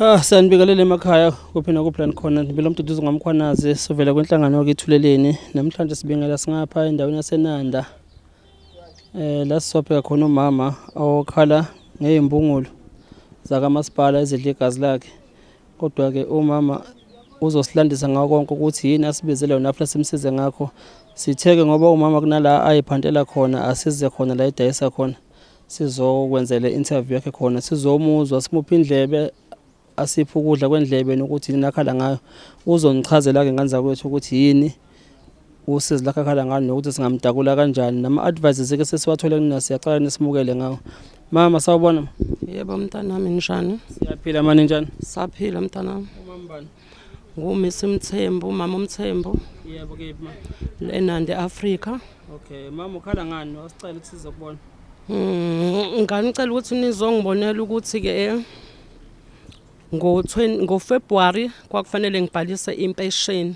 Ah, sanibingelele emakhaya kuphi nakuphi khona ngibela umduduzi ngomkhwanazi sivela kwenhlangano yakithuleleni namhlanje sibingela singapha endaweni yasenanda eh la sisophe khona umama awokhala ngezimbungulu zakamasipala ezidla igazi lakhe Kodwa-ke umama uzosilandisa ngako konke ukuthi yini asibizele yona afuna simsize ngakho. Sitheke ngoba umama kunala ayiphantela khona asize khona la edayisa khona. Sizokwenzela interview yakhe khona sizomuzwa simuphe indlebe asiphe ukudla kwendlebe nokuthi yini akhala ngayo. Uzonichazela-ke ngane zakwethu ukuthi yini usizi lakhe akhala ngalo nokuthi singamtakula kanjani nama-advices ke sesiwathole kunina siyacala nisimukele ngawo mama sawubona yebo mntanami njani siyaphila mani njani saphila mntanami umambani ngumisi mthembu umama umthembu yebo kephi ma lenande africa okay mama ukhala ngani wasicela ukuthi sizokubona hmm, nganicela ukuthi nizongibonela ukuthi-ke eh, ngo-february kwakufanele ngibhalise impesheni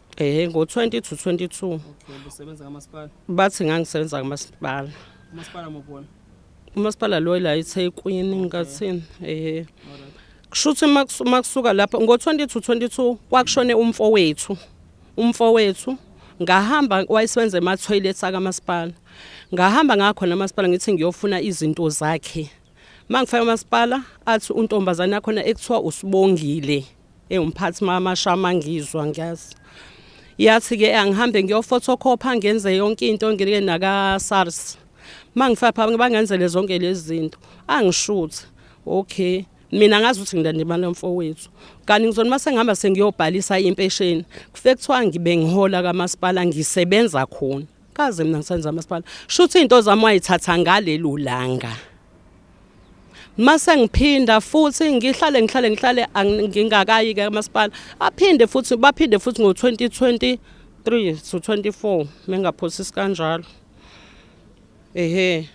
Eh ngo-20 to 22. Okay, busebenza kamasipala. Bathi ngangisebenza kamasipala. Umasipala mobona. Umasipala lo la iThekwini ngathini. Eh. Kushuthi makusuka lapho ngo-20 to 22 kwakushone umfowethu. Umfowethu ngahamba wayesebenza ema-toilet akamasipala ngahamba ngakhona amasipala ngithi ngiyofuna izinto zakhe Mangifika umasipala athi untombazane yakhona ekuthiwa usibongile ewumphathi mamashama ngizwa ngiyazi yathi ke angihambe ngiyofotokhopha ngenze yonke into ngike naka SARS mangifika phambi bangenzele zonke lezi zinto angishuthi okay mina ngazi ukuthi ngilande imali yomfowethu kanti ngizona uma sengihamba sengiyobhalisa impesheni kufe kuthiwa ngibe ngihola kamasipala ngisebenza khona kaze mina ngisenza masipala shuthi into zami wayithatha ngaleli ulanga mase ngiphinda futhi ngihlale ngihlale ngihlale ngingakayi ke masipala aphinde futhi baphinde futhi ngo 2023 to 24 mengaphosisi kanjalo ehe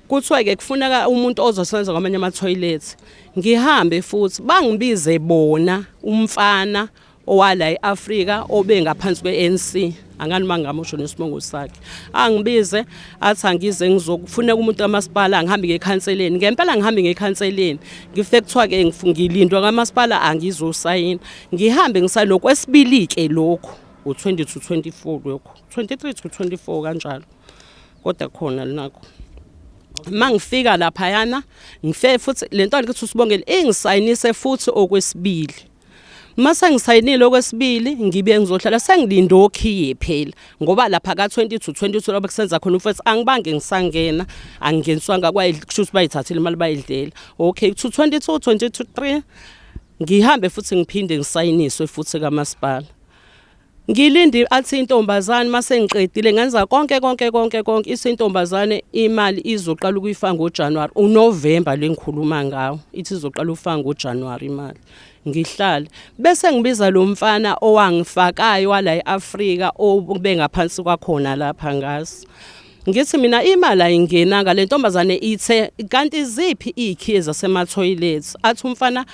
kuthiwa ke kufuneka umuntu ozosebenza kwamanye ama toilet ngihambe futhi bangibize bona umfana owala e-Afrika obe ngaphansi kwe-ANC angani mangamusho nesibongo sakhe angibize athi angize ngizokufuna umuntu kamasipala ngihambe ngekhanseleni ngempela ngihambe ngekhanseleni ngifike kuthiwa ke ngifungilindwa kamasipala angizosayina ngihambe ngisalokhu esibili ke lokho u20 to 24 lokho 23 to 24 kanjalo kodwa khona linakho mangifika lapha yana ngife futhi lento alithi usibongele ingisayinise futhi okwesibili uma sengisayinile okwesibili ngibuye ngizohlala sengilinde okhiye phela ngoba lapha ka-20 to 22 laba kusenza khona umfethu angibange ngisangena angingeniswanga kusho ukuthi bayithathile imali bayidlela okay to 22 23 ngihambe futhi ngiphinde ngisayiniswe futhi kamasipala Ngilindi athi intombazane mase ngiqedile ngenza konke konke konke konke isintombazane imali izoqala ukuyifa ngoJanuary uNovember lengikhuluma ngawo ithi izoqala ukufa ngoJanuary imali ngihlale bese ngibiza lo mfana owangifakayo wala eAfrika obengaphansi kwakhona lapha ngaso Ngithi mina imali ayingenanga le ntombazane ithe kanti iziphi iy'khiye zasemathoyilethi athi umfana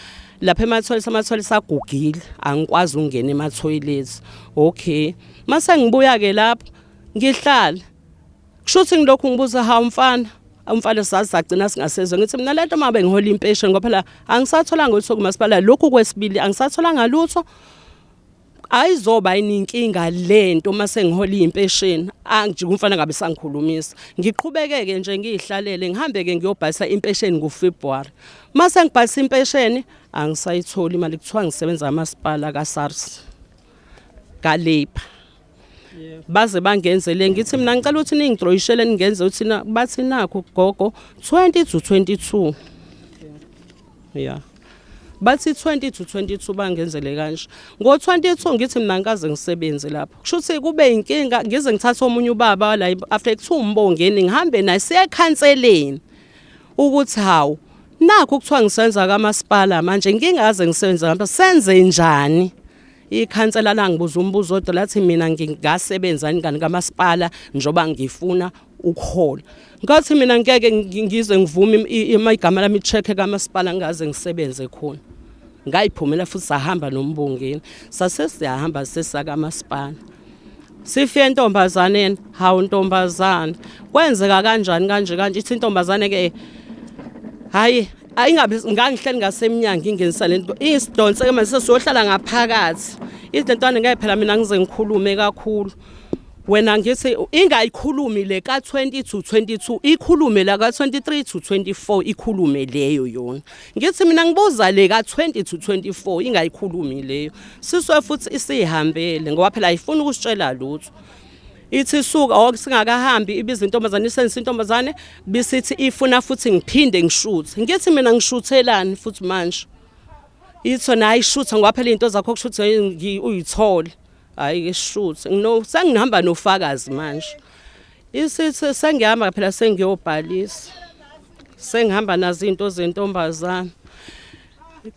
lapha emathoyilethi amathoyilethi sagugile angikwazi ukungena emathoyilethi okay mase ngibuya-ke lapho ngihlala kusho ukuthi ngilokhu ngibuza hawu mfana umfana sazi sagcina singasezwe ngithi mina lento uma bengihola impesheni ngoba phela angisatholanga ukuthi kumasipala lokhu kwesibili angisatholanga lutho ayizoba ininkinga lento uma sengihola impesheni angijike umfana ngabe sangikhulumisa ngiqhubekeke nje ngiyihlalele ngihambe ke ngiyobhalisa impesheni ngoFebruary uma sengibhalisa impesheni angisayitholi imali kuthiwa ngisebenza amasipala kaSARS kaLabor baze bangenzele ngithi mina ngicela ukuthi ningidroyishele ningenze ukuthi bathi nakho gogo 20 to 22 yeah bathi 20 to 22 bangenzele kanje ngo-22 ngithi mina ngikaze ngisebenze lapho kusho ukuthi kube yinkinga ngize ngithathe omunye ubaba la after kuthiwa umbongeni ngihambe naye siyekhanseleni ukuthi hawu nakho kuthiwa ngisenza kamasipala manje ngingaze ngisebenze ngapha senze njani ikhansela langibuza umbuzo odwa lathi mina ngingasebenzani kani kamasipala njoba ngifuna ukuhola ngathi mina ngeke ngize ngivume uma igama lami check kamasipala ngaze ngisebenze khona ngayiphumela futhi sahamba nombongeni sase siyahamba sesaka masipala sifike entombazaneni hawu ntombazana kwenzeka kanjani kanje kanje ithi intombazane ke hayi ayingabe ngangihleli ngasemnyango ingenisa lento isidonse ke manje sesiyohlala ngaphakathi izintwana ngeke phela mina ngize ngikhulume kakhulu wena ngithi ingayikhulumi le ka 20 to 22 ikhulume la ka 23 to 24 ikhulume leyo yona ngithi mina ngibuza le ka 20 to 24 ingayikhulumi leyo siswe futhi isihambele ngoba phela ayifuni ukusitshela lutho ithi suka ok singakahambi ibiza intombazane isenza intombazane bisithi ifuna futhi ngiphinde ngishuthe ngithi mina ngishuthelani futhi manje itho nayi shutha ngoba phela into zakho kushuthe uyithole hayi ke shuthi ngino sengihamba nofakazi manje isithi sengihamba phela sengiyobhalisa sengihamba nazo izinto zentombazana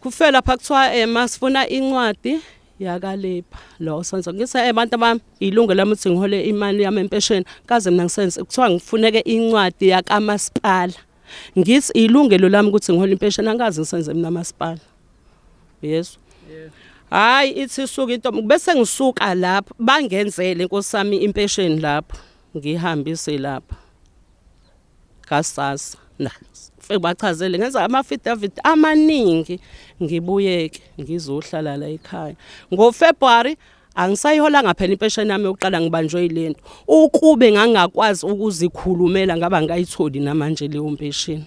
kufela lapha kuthiwa eh masifuna incwadi yakalepha lo senzo ngise abantu eh, abami ilungu lami ukuthi ngihole imali yami empesheni kaze mina ngisenze kuthiwa ngifuneke incwadi yakamasipala ngithi ilungelo lami ukuthi ngihole impesheni angikaze ngisenze mina masipala yesu hayi ithi suka intombi bese ngisuka lapho bangenzele inkosi yami impesheni lapho ngihambise lapho kasasa na bachazele ngenza ama-affidavit amaningi ngibuyeke ngizohlala la ekhaya ngofebruwari angisayiholanga phela impesheni yami yokuqala ngibanjwe yilento ukube ngangakwazi ukuzikhulumela ngaba ngayitholi namanje leyo mpesheni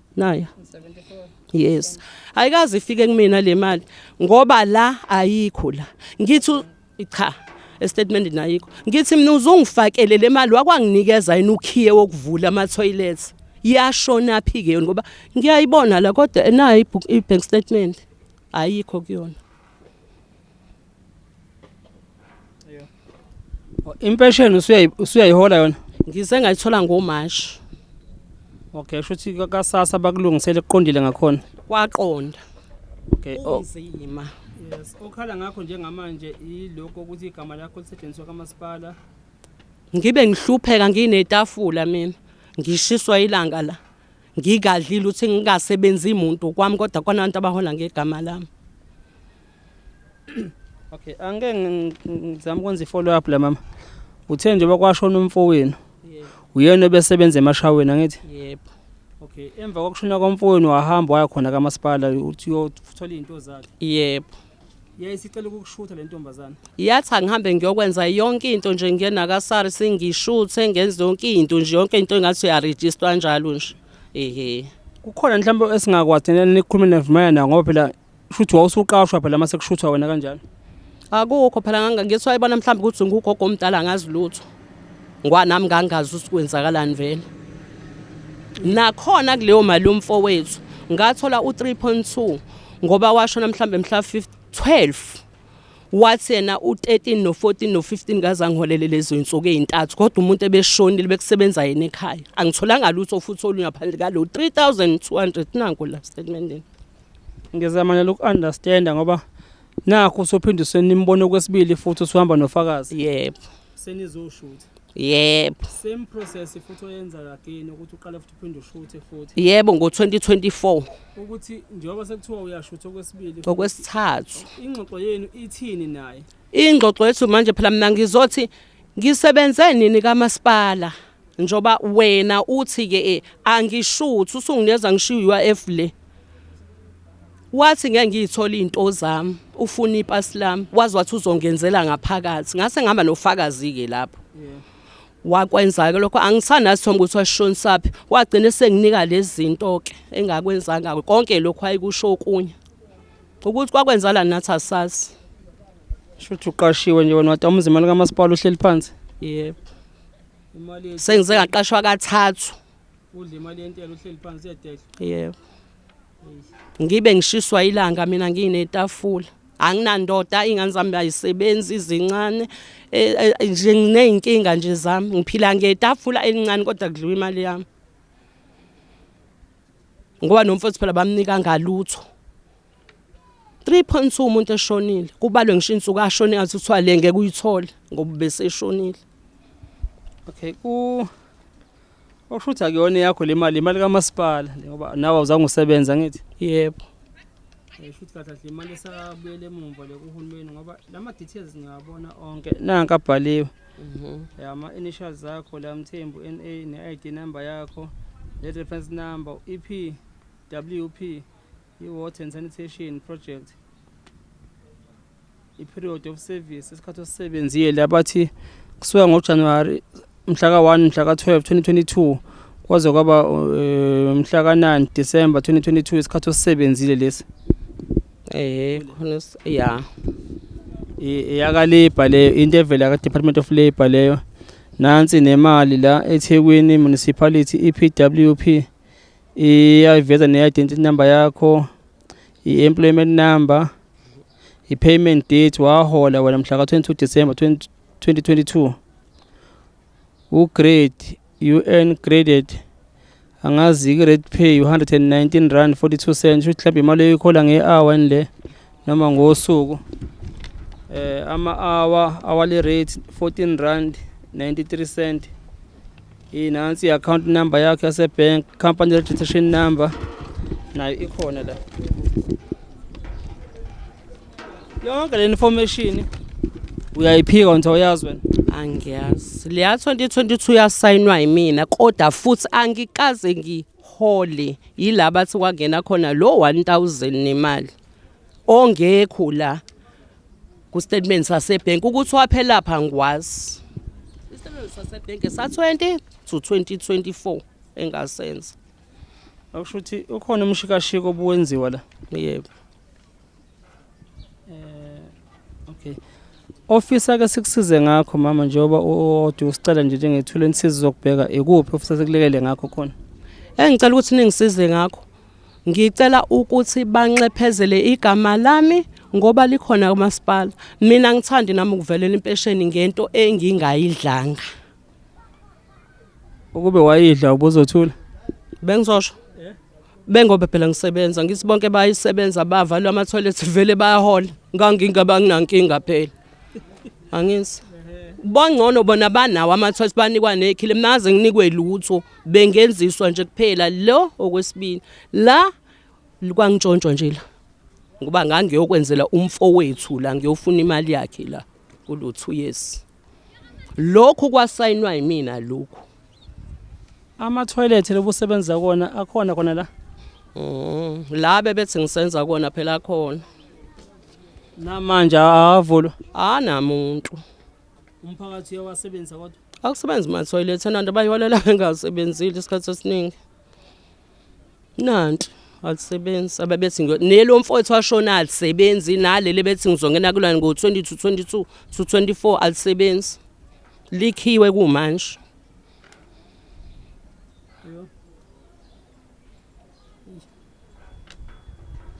nayo yes ayikaze ifike kumina le mali ngoba la ayikho la ngithi cha estatement nayikho ngithi mina uzungifakele le mali wakwanginikeza yini ukhiye wokuvula ama toilets yashona phi ke yona ngoba ngiyayibona la kodwa enayo i bank statement ayikho kuyona Impesheni usuyayi usuyayihola yona? Ngize ngayithola ngoMashi. Okay, shuthi kasasa bakulungisele kuqondile ngakhona. Kwaqonda. Okay. Oh. Kunzima. Yes, okhala ngakho njengamanje ilokho ukuthi igama lakho lisetshenziswa kamasipala. Ngibe ngihlupheka nginetafula mina. Ngishiswa ilanga la. Ngikadlile uthi ngingasebenzi muntu kwami kodwa kona abantu abahola ngegama lami. Okay, angeke ngizama ukwenza i-follow up la mama. Uthe nje bakwashona umfowenu. Yebo. Uyena obesebenza emashaweni angithi? Yebo. Okay, emva kokushona komfowenu wahamba waya khona kamasipala uthi uyothola izinto zakhe. Yebo. Yayisicela ukukushutha le ntombazana. Yathi angihambe ngiyokwenza yonke into nje ngiyena ka SARS ngishuthe ngenze yonke into nje yonke into engathi uyaregister njalo nje. Ehhe. Kukhona mhlawumbe esingakwazi thina nikhulume nevumayana ngoba phela Shuthi wawusuqashwa phela mase kushuthwa wena kanjalo. Akukho phela ngangangizwa ayibona mhlawumbe ukuthi ngugogo omdala ngazi lutho. Ngoba nami ngangazi ukuthi kwenzakalani vele. Nakhona kuleyo mali umfowethu ngathola u3.2 ngoba washona mhlawumbe mhla 12 wathi yena u13 no14 no15 ngaza ngiholele lezo insuku ezintathu kodwa umuntu ebeshonile bekusebenza yena ekhaya angitholanga lutho futhi olungaphandle kalo 3200 nanku la statementini Ngizama nalo uku-understanda ngoba nakho usophinde usenimbone okwesibili futhi usuhamba nofakazi. Yebo. Senizoshutha. Yebo. Same process futhi oyenza again ukuthi uqale futhi uphinde ushuthe futhi. Yebo ngo-2024. Ukuthi njengoba sekuthiwa uyashutha okwesibili. Okwesithathu. Ingxoxo yenu ithini naye? Ingxoxo yethu manje phela mina ngizothi Ngisebenze nini kamasipala njoba wena uthi ke eh, angishuthi usungineza ngishiya UIF le wathi ngeke ngiyithola izinto zami ufuna ipasi lami wazi wathi uzongenzela ngaphakathi ngase ngihamba nofakazi ke lapho wakwenza ke lokho angisanazi thomba ukuthi washonisaphi wagcina senginika lezi zinto ke engakwenzanga konke lokho ayikusho okunye ukuthi kwakwenzalani nathi asazi shuthi uqashiwe nje wena wada umuzi imali kamasipala uhleli phansi yebo imali sengize ngaqashwa kathathu udla imali yentela uhleli phansi yedehla yebo ngibe ngishiswa ilanga mina nginetafula anginandoda ingane zami ayisebenzi izincane e, e, nje ngineyinkinga nje zami ngiphila ngetafula elincane kodwa kudliwa imali yami ngoba nomfowethu phela bamnika ngalutho 3.2 umuntu eshonile kubalwe ngisho insuku ashone ngathi kuthiwa le ngeke uyithole ngoba beseshonile okay ku okushuthi akuyona yakho le mali imali kamasipala ngoba nawe awuzange usebenza ngithi yebo shuthi kahle kahle imali esabuyele emumva le kuhulumeni ngoba lama details ngiyabona onke nanka abhaliwe Mhm. ya ama initials zakho la mthembu NA ne ID number yakho le reference number E EP WP i water and sanitation project i period of service isikhathi osisebenzile abathi kusuka ngo January mhla ka 1 mhla ka 12 2022 kwaze kwaba eh, mhla ka 9 December 2022 isikhathi osisebenzile lesi Eh khona ya. Iyakalibha le into evela ka Department of Labor leyo. Nansi nemali la eThekwini Municipality iPWP iyayiveza ne identity number yakho, i employment number, i payment date wahola wena mhla ka 22 December 2022. U grade You earn graded angazi i-rate pay u-119 rand 42 cent shuthi mhlawumbe imali oyikhola nge-hour ni le noma ngosuku eh ama-hour hourly rate 14 rand 93 cent inansi i-account number yakho yasebank company registration number nayo ikhona la yonke le information uyayiphika nje uyazi wena angiyazi leya 2022 yasayinwa yimina kodwa futhi angikaze ngihole yila bathi kwangena khona lo 1000 nemali ongekho la ku statement sase bank ukuthi waphela pha ngwazi i statement sase bank sa 20 to 2024 engasenza akusho ukuthi ukhona umshikashiko obuwenziwa la yebo Okay. Ofisa ke sikusize ngakho mama njengoba uthi usicela nje njengethula insizi zokubheka ikuphi ofisa sikulekele ngakho khona. Engicela ukuthi ningisize ngakho. Ngicela ukuthi banxephezele igama lami ngoba likhona kumasipala. Mina ngithandi nami ukuvelela impesheni ngento engingayidlanga. Ukube wayidla ubuzothula. Bengizosho. Bengobe phela ngisebenza ngithi bonke bayisebenza bavalwa ama toilet vele bayahola. Ngangingaba nginankinga phela. Angithi bongcono bona banawo amathwathi banikwa nekhile mnaze nginikwe lutho bengenziswa nje kuphela lo okwesibili la kwangishontshwa nje la ngoba ngangiyokwenzela umfowethu la ngiyofuna imali yakhe la kulutho yes lokhu kwasayinwa yimina lokhu amathoyilethi lobusebenza kona akhona khona la mm, la bebethi ngisenza kona phela akhona namanje awavulwa anamuntu umphakathi uyawasebenzisa kodwa akusebenzi mathoyilethi enanto bayiholela bengasebenzile isikhathi esiningi nanti alisebenzi ababethi nelo mfowethu washona alisebenzi naleli bethi ngizongena kulani ngo-20 to 22 to 24 alisebenzi likhiwe kumanje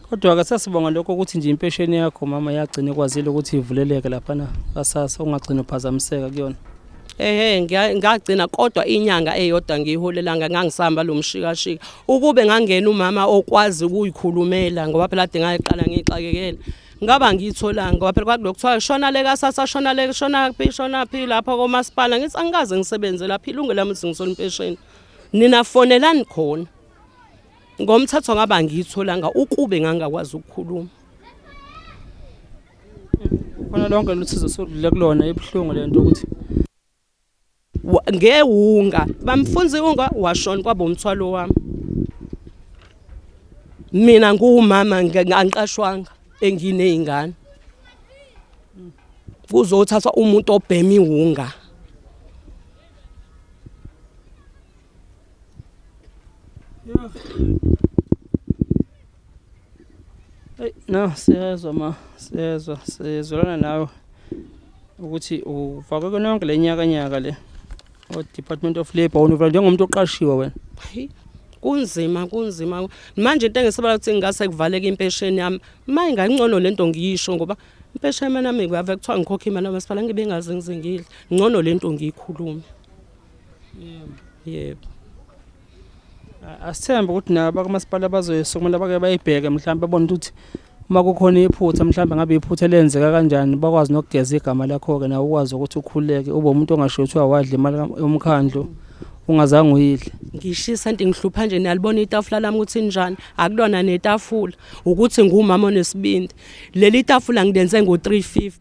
kodwa ke sasibonga lokho ukuthi nje impesheni yakho mama yagcina ikwazile ukuthi ivuleleke laphana kasasa ungagcina uphazamiseka kuyona ehe ngagcina kodwa inyanga eyodwa ngiyiholelanga ngangisahamba lo mshikashika ukube ngangena umama okwazi ukuyikhulumela ngoba phela ade ngayiqala ngiyixakekela ngaba ngiyitholanga ngoba phela kwakulo kuthiwa shona le kasasa shona le shona phi shona phi lapha komasipala ngithi angikaze ngisebenze lapha ilungu lami ukuthi ngisona impesheni nina fonelani khona ngomthetho ngaba ngiyitholanga ukube ngangakwazi ukukhuluma khona lonke luthizo sodlule kulona ebuhlungu lento ukuthi ngewunga bamfunza iwunga washona kwaba umthwalo wami mina nguwumama angiqashwanga engineyingane kuzothathwa umuntu obhema iwunga Yeah. Hey, no siyezwa ma siyezwa siyezwelana nawe ukuthi ufakwe kona yonke lenyaka nyaka le o Department of Labor univela njengomuntu oqashiwe wena kunzima kunzima manje into engisabala ukuthi ngingase kuvaleke impesheni yami maye ngangcono lento ngiyisho ngoba impesheni yami nami kuyave kuthiwa ngikhokhe imali yamasipala ngibe ngazi ngizingile ngcono lento ngiyikhulume yebo yebo asithembe ukuthi nabo bakumasipala bazoyesa kumele bake bayibheke mhlawumbe babone ukuthi uma kukhona iphutha mhlawumbe ngabe iphutha elenzeka kanjani bakwazi nokugeza igama lakho-ke nawe ukwazi ukuthi ukhuleke ube umuntu ongasho kuthiwa wadla imali yomkhandlu ungazange uyidle ngishisa nti ngihlupha nje niyalibona itafula lami ukuthi njani akulona netafula ukuthi ngumama onesibindi leli tafula ngilenze ngo-350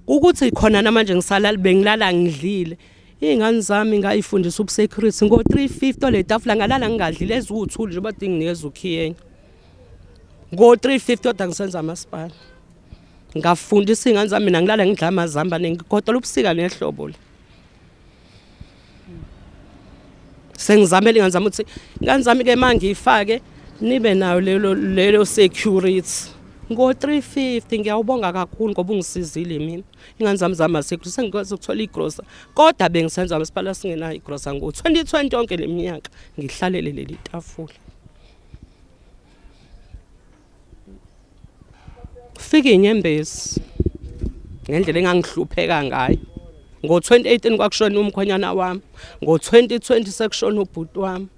ukuthi khona namanje ngisalala bengilala ngidlile Iy'ngane zami ngayifundisa ubusecurity ngo-three fifty ole tafula ngalala ngingadlile eziwuthuli njengoba dinginikeza ukhiyenya ngo-three fifty oda ngisenza amasipala ngafundisa iy'ngane zami mina ngilala ngidla amazamba nengigodola ubusika nehlobo le sengizamele ingane zami ukuthi ingane zami-ke ma ngiyifake nibe nayo lelo security ngo-three fifty ngiyawubonga kakhulu ngoba ungisizile mina ingane zami zamasikho sengikwazi ukuthola igrosa kodwa bengisenza masipala singenayo igrosa ngo-2020 yonke le minyaka ngihlalele leli tafula fike inyembezi ngendlela engangihlupheka ngayo ngo-2018 kwakushona umkhwenyana wami ngo-2020 sekushona ubhuti wami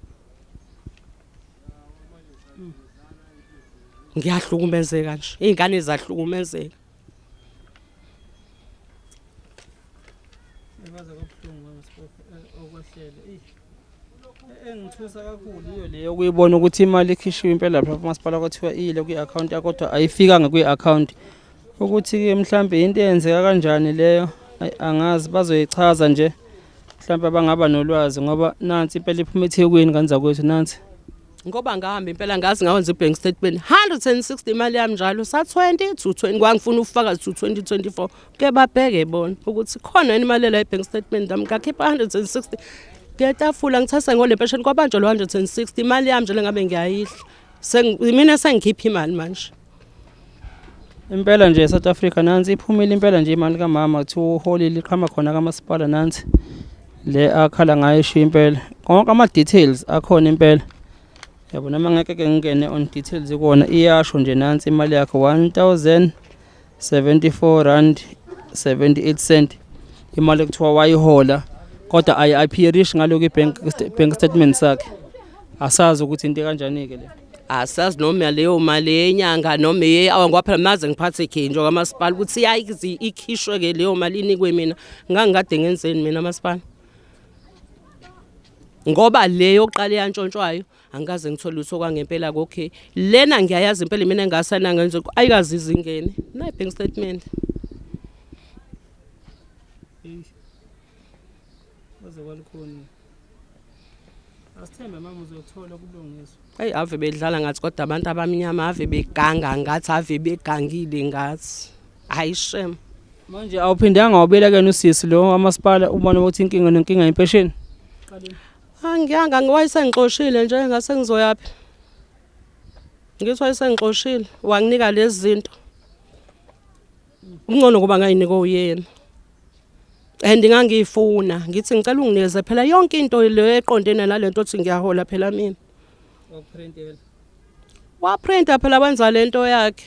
ngiyahlukumezeka nje iy'ngane zahlukumezeka kwaze kwabuhlungu ngamasipofu eh, okwehlele eyi e-, engithusa kakhulu iyo leyo kuyibona ukuthi imali ikhishiwe impela lapha umasipala kwathiwa iyile kwi-akhawunti yakho kodwa ayifikanga kwi-akhawunti ukuthi-ke mhlawumbe yinto eyenzeka kanjani leyo angazi bazoyichaza nje mhlawumbe abangaba nolwazi ngoba nansi impela iphuma ethekwini ngani zakwethu nansi ngoba ngahamba impela ngazi ngawenza i-bank statement 160 imali yami njalo sa-20 to 20 kwangifuna ufakazi to 2024 ke babheke bona ukuthi khona yini imali ela i-bank statement yami ngakhipha 160 ngiyatafula ngithatha ngole mpesheni kwabanjwa lo 160 imali yami njalo ngabe ngiyayidla mina sengikhipha imali manje impela nje South Africa nansi iphumile impela nje imali kamama kuthiwa uholi liqhama khona kamasipala nansi le akhala ngayo ishiya impela konke ama details akhona impela yabo noma ngeke ke ngingene on details kuona iyasho nje nansi imali yakhe 1074 rand 78 cent imali ekuthiwa wayihola kodwa ayi appearish ngaloku bank bank statement sakhe asazi ukuthi into kanjani ke le asazi noma leyo mali yenyanga noma eyeawa ngoba phela maze ngiphathe ikhinjwa kamasipala ukuthi yayizi ikhishwe ke leyo mali inikwe mina ngangikade ngenzeni mina masipala ngoba le yokuqala eyantshontshwayo angikaze ngithole lutho kwangempela kokhe lena ngiyayazi impela mina engasana ngenze ayikazi izingene nayi bank statement waze kwalikhona Asithembe mama uzothola kubulungiswa. Hey ave bedlala ngathi kodwa abantu abamnyama ave beganga ngathi ave begangile ngathi. Hayi shem. Manje awuphindanga wabelekena usisi lo amasipala ubona ukuthi inkinga nenkinga impesheni. Angiyanga ngiwayisengixoshile nje ngase ngizoyaphi. Ngisho wayesengixoshile wanginika lezi zinto. Kungcono kuba ngayinika uyena. And ngangiyifuna ngithi ngicela unginikeze phela yonke into le eqonde nalento othi ngiyahola phela mina. Wakuprintela. Waprinta phela wenza lento yakhe.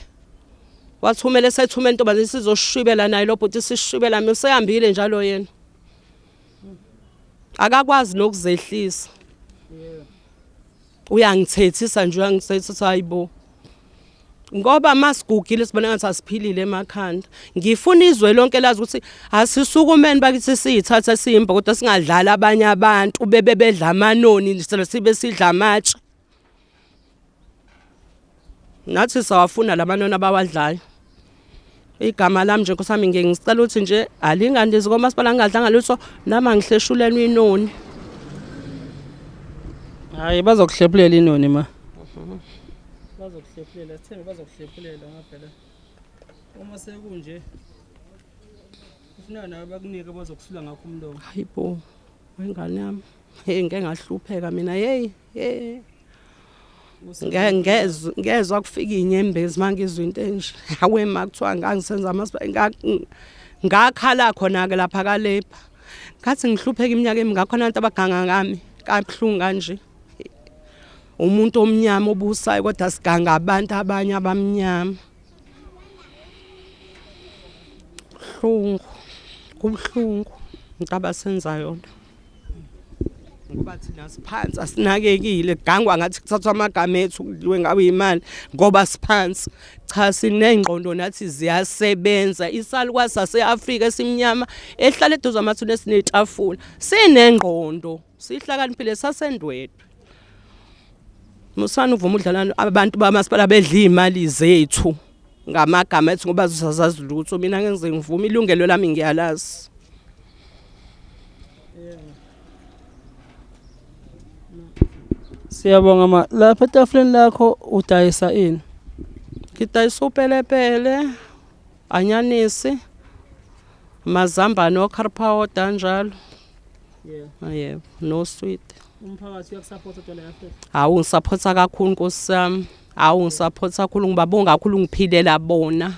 Wathumela esethumela intombazane sizoshibela naye lo bhuti sishibela mina usehambile njalo yena. Akakwazi nokuzehlisa. Yeah. uyangithethisa nje uyangithethisa hayibo ngoba masigugile sibona ngathi asiphilile emakhanda ngifuna izwe lonke lazi ukuthi asisukumeni bakithi siyithatha simba kodwa singadlala abanye abantu bebe bedla amanoni sele sibe sidla amatshe nathi sawafuna lamanona bawadlayo igama lami nje kusami ngeke ngisicela ukuthi nje alingandizi komasipala ngingadlanga lutho nami angihleshulelwe inoni hayi bazokuhlephulela inoni ma bazokuhlephulela sithembe bazokuhlephulela ngaphela uma sekunje ufuna nawe bakunike bazokusula ngakho umlomo hayibo wengane yami hey ngeke ngahlupheka mina hey hey ngezwe ngezwe akufika inyembezi mangizwe into enje hawe makuthiwa ngangisenza amasibaya ngakhala khona ke lapha kalepha ngathi ngihlupheka iminyaka emingakho nantu abaganga ngami kabuhlungu kanje umuntu omnyama obusayo kodwa siganga abantu abanye abamnyama kubuhlungu kubuhlungu into abasenza yona ngoba thina siphansi asinakekile gangwa ngathi kuthathwa amagama ethu kudliwe ngabe imali ngoba siphansi cha sinengqondo nathi ziyasebenza isalukwa sase-afrika esimnyama ehlala eduze amathuna esinetafula sinengqondo sihlakaniphile sasendwedwe musani uvuma udlalana abantu bamasipala bedla iy'mali zethu ngamagama ethi ngoba zisazazi lutho mina ngeke ngize ngivume ilungelo lami ngiyalazi Siyabonga ma lapha etafuleni lakho udayisa ini ngidayisa upelepele anyanisi mazambane okharpawota njalo ah, yebo no sweet umphakathi uyakusaphotha utshwala yafe hawu ngisaphotha kakhulu nkosi yami Hawu ngisaphotha kakhulu ngibabonga kakhulu ngiphilela bona.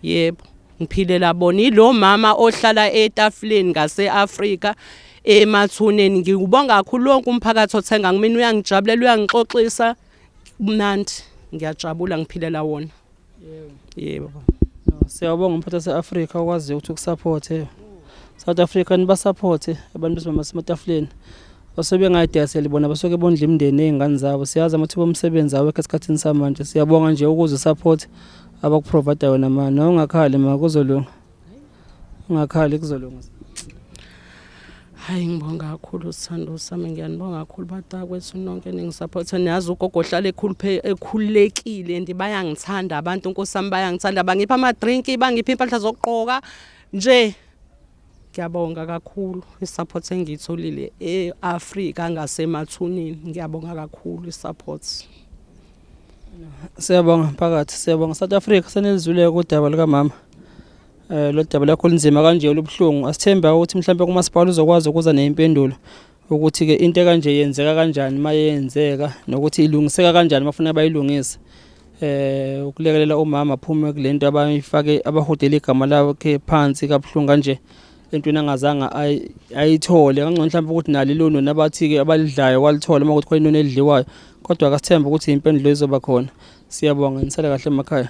Yebo. Ngiphilela bona ilo mama ohlala etafuleni ngaseAfrika emathuneni ngikubonga kakhulu lonke umphakathi othenga kumina uyangijabulela uyangixoxisa kumnandi ngiyajabula ngiphilela wona. yebo siyabonga umphathi wase-afrika okwaziyo ukuthi ukusaphothe south africa nibasaphothe abantu besibamba sematafuleni osebengayidayiseli bona basuke bondla imindeni ey'ngane zabo siyazi amathuba omsebenzi awekho esikhathini samanje siyabonga nje ukuze usaphothe abakuprovayida wena ma nongakhali ma kuzolunga ungakhali kuzolunga hayi ngibonga kakhulu sithando sami ngiyanibonga kakhulu batakwethu nonke eningisaphotha niyazi ugogo ohlala ekhululekile and bayangithanda abantu nkosi yami bayangithanda bangipha amadrinki bangipha impahla zokugqoka nje ngiyabonga kakhulu i-support engiyitholile e-afrika ngasemathuneni ngiyabonga kakhulu i-support Siyabonga mphakathi, siyabonga South Africa senelizwile kudaba likamama. Eh lo daba lakho linzima kanje olubuhlungu. Asithemba ukuthi mhlawumbe kumasipala uzokwazi ukuza neimpendulo ukuthi ke into kanje yenzeka kanjani mayenzeka nokuthi ilungiseka kanjani bafuna bayilungise. Eh ukulekelela umama aphume kulento abayifake abahudela igama lakhe phansi kabuhlungu kanje. entweni angazange ayithole kangcono mhlawumbe ukuthi nali lona nabathi-ke abalidlayo kwalithola uma kuthi khona inoni elidliwayo kodwa akasithembe ukuthi impendulo izoba khona siyabonga nisale kahle emakhaya